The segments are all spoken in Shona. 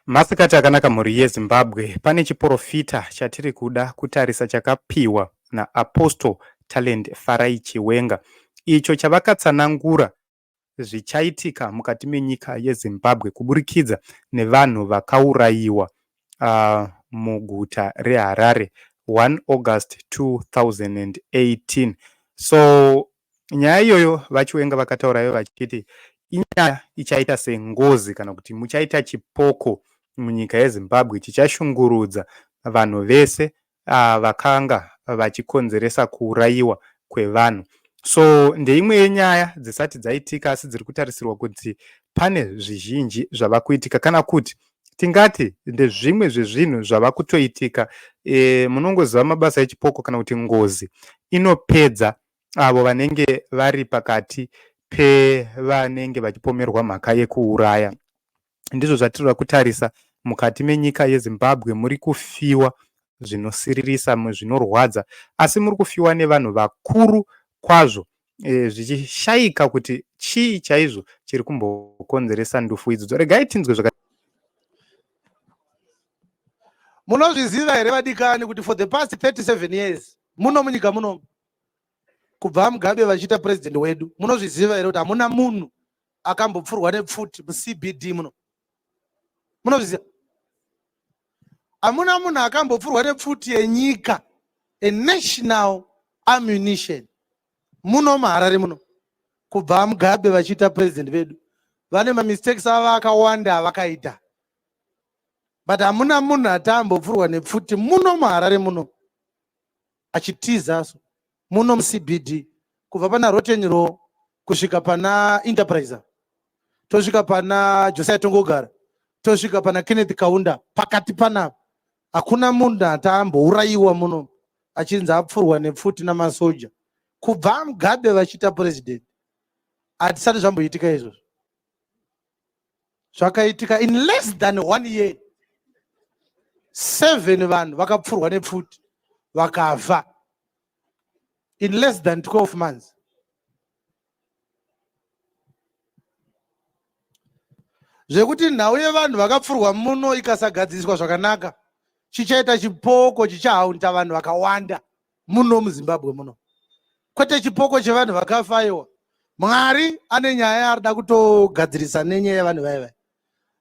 Masikati akanaka mhuri yeZimbabwe, pane chiporofita chatiri kuda kutarisa chakapiwa naApostle Talent Farai Chiwenga icho chavakatsanangura zvichaitika mukati menyika yeZimbabwe kuburikidza nevanhu vakaurayiwa uh, muguta reHarare 1 August 2018 so Nyaya iyoyo VaChiwenga vakataura ivo vachiti inyaya ichaita sengozi kana kuti muchaita chipoko munyika yeZimbabwe chichashungurudza vanhu vese uh, vakanga vachikonzeresa kuurayiwa kwevanhu so ndeimwe yenyaya dzisati dzaitika asi dziri kutarisirwa kuti pane zvizhinji zvava kuitika kana kuti tingati ndezvimwe zvezvinhu zvava kutoitika e, munongoziva mabasa echipoko kana kuti ngozi inopedza avo vanenge vari pakati pevanenge vachipomerwa mhaka yekuuraya ndizvo zvatiri kutarisa mukati menyika yezimbabwe muri kufiwa zvinosiririsa zvinorwadza asi muri kufiwa nevanhu vakuru kwazvo e, zvichishayika kuti chii chaizvo chiri kumbokonzeresa ndufu idzo regai tinzwe zvaka munozviziva here vadikani kuti for the past 37 years muno munyika muno kubva mugabe vachiita president wedu munozviziva here kuti hamuna munhu akambopfurwa nepfuti mucbd muno munozviziva hamuna munhu akambopfurwa nepfuti yenyika a national ammunition muno muharare muno kubva mugabe vachiita president vedu vane mamistakes avo akawanda avakaita but hamuna munhu ati ambopfurwa nepfuti muno muharare muno achitiza so muno mucbd kubva pana roten ro kusvika pana enterpriser tosvika pana josiah tongogara tosvika pana kenneth kaunda pakati panapa hakuna munhu ati ambourayiwa muno achinzi apfurwa nepfuti namasoja kubva mugabe vachiita purezidendi hatisati zvamboitika izvozvo zvakaitika in less than one year seven vanhu vakapfurwa nepfuti vakava in less than 12 months zvekuti nhau yevanhu vakapfurwa muno ikasagadziriswa zvakanaka chichaita chipoko chichahaunta vanhu vakawanda muno muzimbabwe muno kwete chipoko chevanhu vakafa aiwa mwari ane nyaya yaari da kutogadzirisa nenyaya yevanhu vaye vaye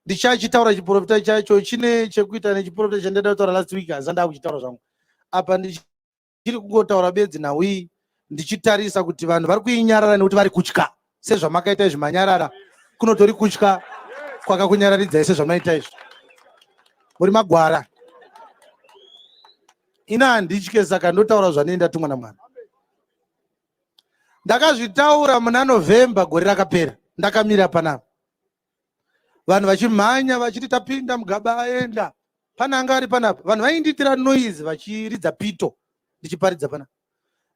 ndichachitaura chiprofita chacho chine chekuita nechiprofita chandaida kutaura last week hanzi andaa kuchitaura zvangu apa ndichiri kungotaura bedzi nhau iyi ndichitarisa kuti vanhu vari kuinyarara nekuti vari kutya sezvamakaita izvi manyarara kunotori kutya kwakakunyararidzai sezvamaita izvi muri magwara ina handitye saka ndotaura zvanei ndatumwa namwana ndakazvitaura muna november gore rakapera ndakamira panapa vanhu vachimhanya vachiti tapinda mugaba aenda pane anga ari panapa vanhu vaindiitira noise vachiridza pito ndichiparidza pana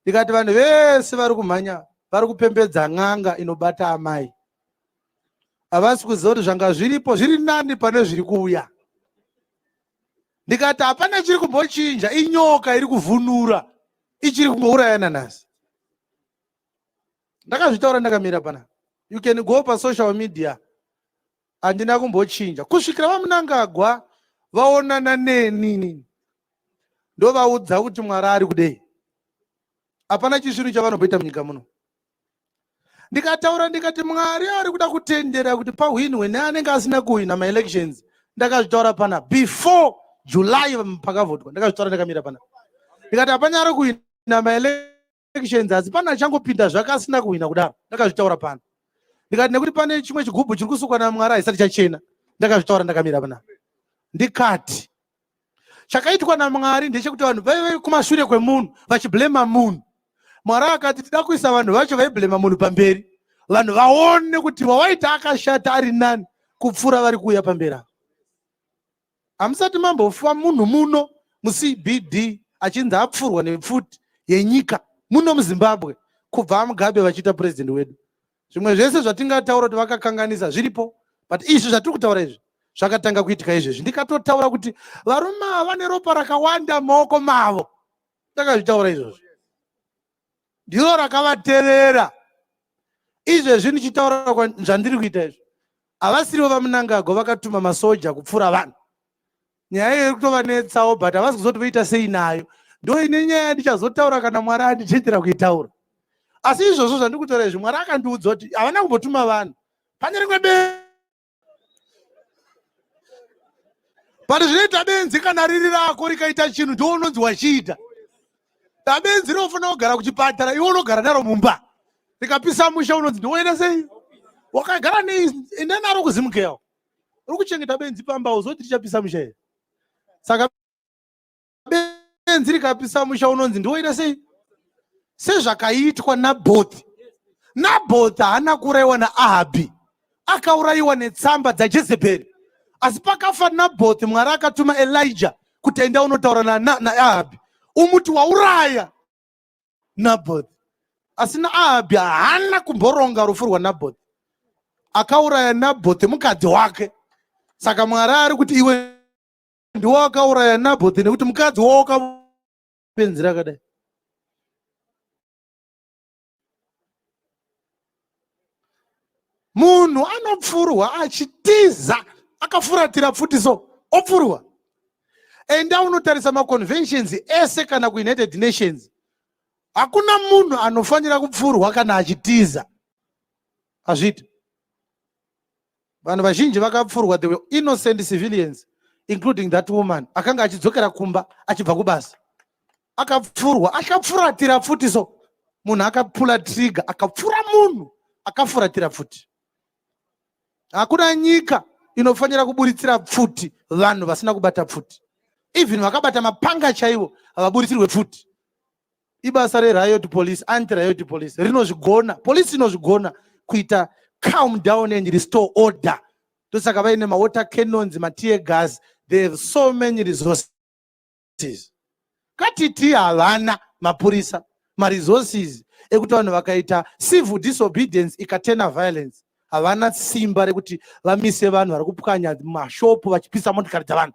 ndikati vanhu vese vari kumhanya vari kupembedza n'anga inobata amai havasi kuziva kuti zvanga zviripo zviri nani pane zviri kuuya ndikati hapana chiri kumbochinja inyoka iri kuvhunura ichiri kungouraya nanhasi ndakazvitaura ndakamira pana you can go pasocial media handina kumbochinja kusvikira vamunangagwa vaonana nenini ndovaudza kuti mwari ari kudei hapana chisvinu chavanoboita munyika muno ndikataura ndikati mwari ari kuda kutendera kuti pahwinwe neanenge asina kuhwina maelections ndakazvitaura pana before july pakavhotwa ndakazvitaura ndakamira pana ndikati hapanyari kuhwina maelections elections asi pane achangopinda zvake asina kuhwina kudaro ndakazvitaura pano ndikati nekuti pane chimwe chigubhu chiri kusukwa namwari haisati chachena ndakazvitaura ndakamira pana ndikati chakaitwa namwari ndechekuti vanhu vaive kumashure kwemunhu vachiblema munhu mwari akati tida kuisa vanhu vacho vaiblema munhu pamberi vanhu vaone kuti wawaita akashata ari nani kupfuura vari kuuya pamberi ava Hamusati mambofa munhu muno muCBD achinzi apfurwa nepfuti yenyika muno muZimbabwe kubva aMugabe vachiita president wedu. Zvimwe zvese zvatingataura kuti vakakanganisa zviripo but izvi zvatiri kutaura izvi zvakatanga kuitika izvezvi. Ndikatotaura kuti varume ava vane ropa rakawanda mumaoko mavo. Ndakazvitaura izvozvo. ndiro rakavatevera izvezvi ndichitaura zvandiri kuita izvi havasirivo vamunangagwa vakatuma masoja kupfuura vanhu nyaya iyo iri kutovanetsawo but havasi kuzoti voita sei nayo ndo ine nyaya yandichazotaura kana mwari andichendera kuitaura asi izvozvo zvandiri kutaura izvi mwari akandiudza kuti havana kumbotuma vanhu pane rimwe be but zvinoita benzi kana riri rako rikaita chinhu ndiwo unonzi wachiita dabenzi rinofanira kugara kuchipatara iwe unogara naro mumba rikapisa musha unonzi ndiwoenda sei wakagara nei enda naro kuzimukeyawo uri kuchengeta benzi pamba uzoti richapisa musha here saka benzi rikapisa musha unonzi ndiwoita sei sezvakaitwa nabhothi nabhothi haana kuurayiwa naahabhi akaurayiwa netsamba dzajezebheri asi pakafa nabhothi mwari akatuma elija kuti enda unotaura naahabhi na umuti wauraya nabhothi asi naahabhi haana kumboronga rufu rwanabhothi akauraya nabhothi mukadzi wake saka mwari ari kuti iwe ndiwo akauraya nabhothi nekuti mukadzi wawo akapenzi rakadai munhu anopfurwa achitiza akafuratira pfuti so opfurwa enda unotarisa maconventions ese kana kuunited nations hakuna munhu anofanira kupfurwa kana achitiza hazviiti vanhu vazhinji vakapfurwa the innocent civilians including that woman akanga achidzokera kumba achibva kubasa akapfurwa akafuratira futi so munhu akapula trigger akapfura munhu akafuratira futi hakuna nyika inofanira kuburitsira pfuti vanhu vasina kubata pfuti even vakabata mapanga chaivo havaburitsirwe pfuti ibasa reriot police anti riot police rinozvigona police inozvigona kuita calm down and restore order ndosaka vaine mawater cannons matear gas they have so many resources katiti havana mapurisa maresources ekuti vanhu vakaita civil disobedience ikatena violence havana simba rekuti vamise vanhu vari kupwanya mashopu vachipisa motikari dzavanhu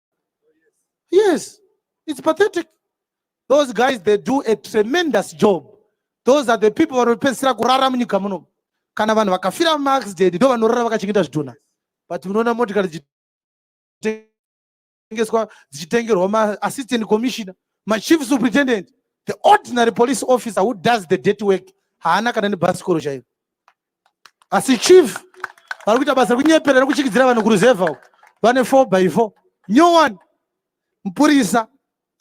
Yes, it's pathetic. Those guys, they do a tremendous job. Those are the people vanopedzisira kurara munyika muno. Kana vanhu vakafira mumaaccident ndo vanorara vakachengeta zvidhona. But munoona motikari dzichitengeswa dzichitengerwa maassistant commissioner, machief superintendent, the ordinary police officer who does the dirty work haana kana nebhasikoro chaiyo. asi chief vari kuita basa rekunyepera rekuchikidzira vanhu kuruzevha uko vane four by four new one mupurisa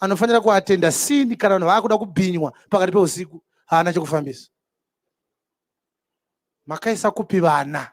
anofanira kuatenda sini kana vanhu vaakuda kubhinywa pakati peusiku haana chekufambisa makaisa kupi vana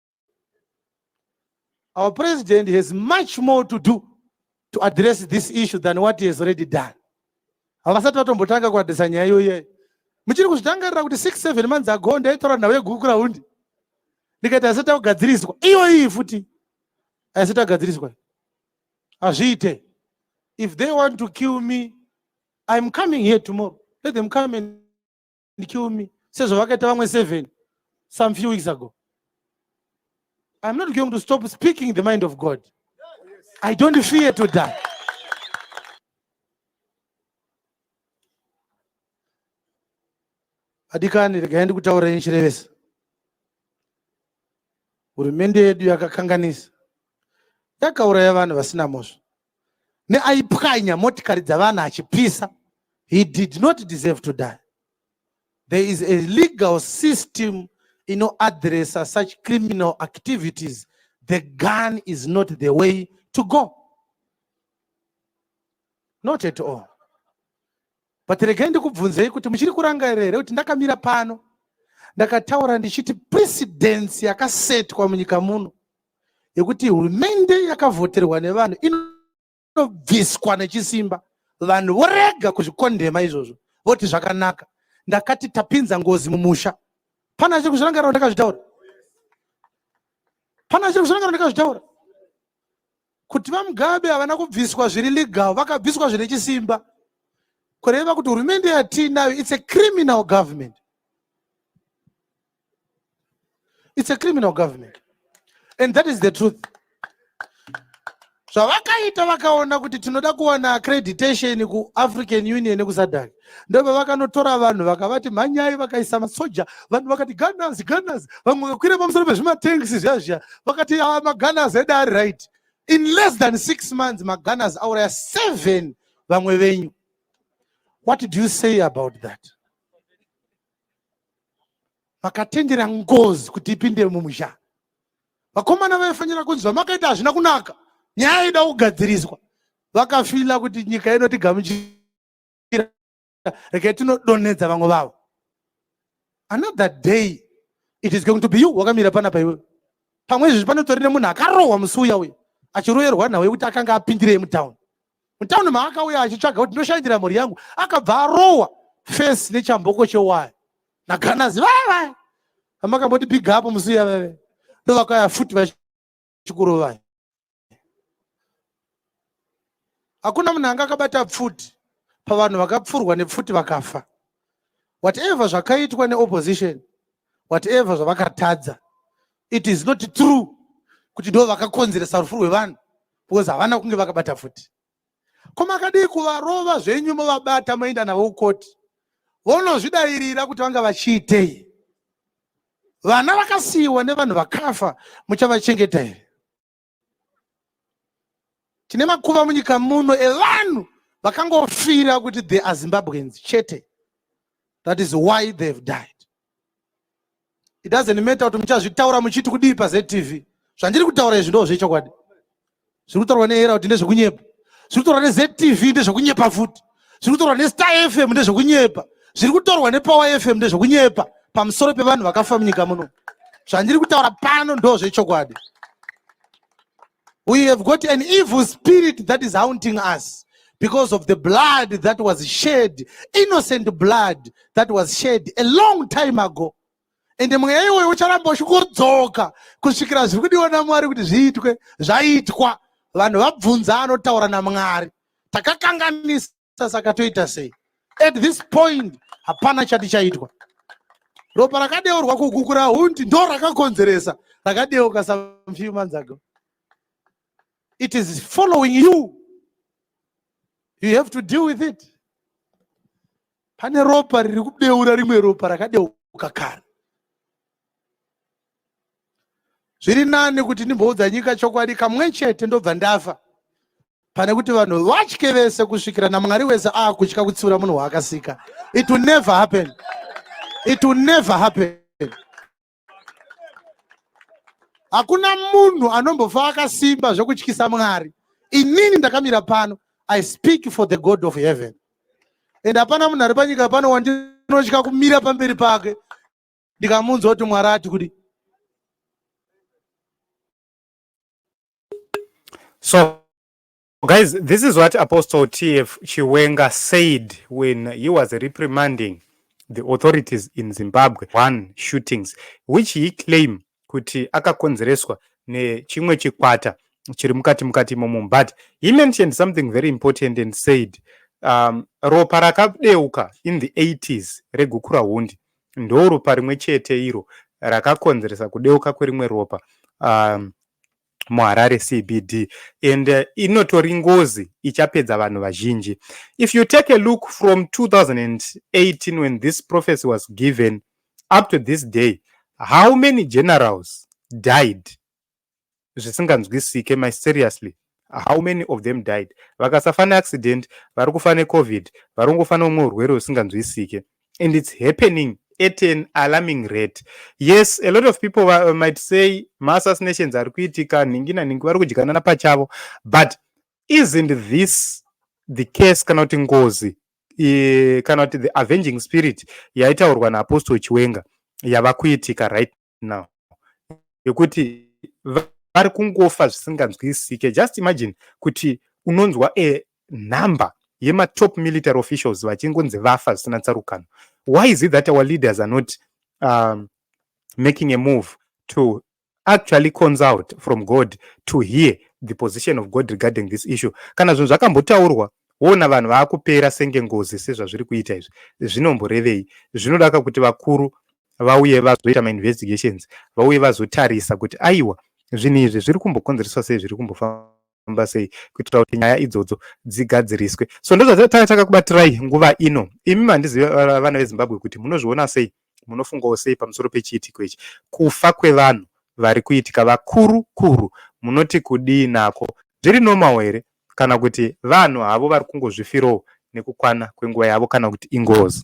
Our president has much more to do to address this issue than what he has already done. Havasati vatombotanga kuadresa nyaya iyoyo. Muchiri kuzvitangarira kuti 6 7 months ago ndaitaura nhau yeGurukurawundi. Ndikati haisati yakugadziriswa. Iyoyi futi haisati yagadziriswa. Hazviite. If they want to kill me, I'm coming here tomorrow. Let them come and and kill me sezvavakaita vamwe seven some few weeks ago i'm not going to stop speaking the mind of god i don't fear to die adikani regai ndikutaura inchirevesa hurumende yedu yakakanganisa yakauraya vanhu vasina mhosva neaipwanya motikari dzavana achipisa he did not deserve to die there is a legal system inoadressa such criminal activities the gun is not the way to go not at all but regai ndikubvunzei kuti muchiri kurangarira here kuti ndakamira pano ndakataura ndichiti precedence yakasetwa munyika muno yekuti hurumende yakavhoterwa nevanhu inobviswa nechisimba vanhu vorega kuzvikondema izvozvo voti zvakanaka ndakati tapinza ngozi mumusha pana chiri kuzvirangarira ndakazvitaura pana chiri kuzvirangarira ndakazvitaura kuti vamugabe havana kubviswa zviri legal vakabviswa zvine chisimba kureva kuti hurumende yatiinayo its a criminal government its a criminal government and that is the truth zvavakaita vakaona kuti tinoda kuwana accreditation kuafrican union nekusadhaki ndoba vakanotora vanhu vakavati mhanyai vakaisa masoja vanhu vakati gunners gunners vamwe vakakwira pamusoro pezvimatanks zviya zviya vakati a ah, magunners ede ari right in less than six months magunners auraya seven vamwe venyu what do you say about that vakatendera ngozi kuti ipinde mumusha vakomana vaifanira kunzi zvamakaita hazvina kunaka nyaya ida kugadziriswa vakafila kuti nyika ino tigamuchira regai tinodonhedza vamwe vavo another day it is going to be you wakamira pana paiwe pamwe izvezvi panotorine munhu akarohwa musi uya uya achiroyerwa nhau yekuti akanga apindirei mutown mutauni maakauya achitsvaga kuti ndoshandira mhuri yangu akabva arohwa fesi nechamboko chewaya naganazi vaya vaya amakamboti big up musiya veve ndovakauya futi vachikurovai hakuna munhu anga akabata pfuti pavanhu vakapfurwa nepfuti vakafa whatever zvakaitwa neopposition whatever zvavakatadza it is not true kuti ndo vakakonzeresa rufu rwevanhu because havana kunge vakabata futi ko makadii kuvarova zvenyu movabata moenda navo kukoti vonozvidairira kuti vanga vachiitei vana vakasiyiwa nevanhu vakafa muchavachengeta here tine makuva munyika muno evanhu vakangofira kuti the azimbabweans chete that is why they've died it doesn't matter kuti muchazvitaura muchiti kudii pazetv zvandiri kutaura izvi ndo zvechokwadi zviri kutaurwa neera kuti ndezvekunyepa zviri kutaurwa nezetv ndezvekunyepa futi zviri kutaurwa nestar fm ndezvekunyepa zviri kutorwa nepower fm ndezvekunyepa pamusoro pevanhu vakafa munyika muno zvandiri kutaura pano ndo zvechokwadi We have got an evil spirit that is haunting us because of the blood that was shed, innocent blood that was shed a long time ago. And mweya iwoyo ucharamba uchikodzoka kusvikira zviri kudiwa naMwari kuti zviitwe zvaitwa. Vanhu vabvunza anotaura naMwari. Takakanganisa saka toita sei at this point hapana chati chaitwa ropa rakadeurwa kukukura hundi ndo rakakonzeresa rakadeuka some few months ago it is following you you have to deal with it pane ropa riri kudeura rimwe ropa rakadeuka kare zviri nani kuti ndimboudza nyika chokwadi kamwe chete ndobva ndafa pane kuti vanhu vatye vese kusvikira namwari wese aakutya kutsiura munhu waakasika it will never happen it will never happen hakuna munhu anombofa akasimba zvekutyisa mwari inini ndakamira pano i speak for the god of heaven and hapana munhu ari panyika pano wandinotya kumira pamberi pake ndikamunzwa kuti mwari ati kuti so guys this is what apostle tf chiwenga said when he was reprimanding the authorities in zimbabwe one shootings which he claimed kuti akakonzereswa nechimwe chikwata chiri mukati mukati imomo but he mentioned something very important and said um, ropa rakadeuka in the 80s regukura hundi ndo ropa rimwe chete iro rakakonzeresa kudeuka kwerimwe ropa um, muharare cbd and uh, inotori ngozi ichapedza vanhu vazhinji if you take a look from 2018 when this prophecy was given up to this day how many generals died zvisinganzwisike my seriously how many of them died vakasafa neaccident vari kufa necovid vari kungofa neumwe urwere husinganzwisike and it's happening at an alarming rate yes a lot of people uh, might say maassassinations ari kuitika nhingi nanhingi vari kudyanana pachavo but isn't this the case kana kuti ngozi kana kuti the avenging spirit yaitaurwa naapostle chiwenga yava kuitika right now yekuti vari kungofa zvisinganzwisike just imagine kuti unonzwa a number yematop military officials vachingonzi vafa zvisina tsarukano why is it that our leaders are not um, making a move to actually consult from god to hear the position of god regarding this issue kana zvinhu zvakambotaurwa wona vanhu vaakupera senge ngozi sezvazviri kuita izvi zvinomborevei zvinodaka kuti vakuru vauye vazoita mainvestigations vauye vazotarisa kuti aiwa zvinhu izvi zviri kumbokonzereswa sei zviri kumbofamba sei kuitira kuti nyaya idzodzo dzigadziriswe so ndozvatakataka kubatirai nguva ino imi mandiziva vana vezimbabwe kuti munozviona sei Munofungawo sei pamusoro pechiitiko ichi? Kufa kwevanhu vari kuitika vakuru kuru munoti kudii nako? Zviri normal here kana kuti vanhu havo vari kungozvifirowo nekukwana kwenguva yavo kana kuti ingozi?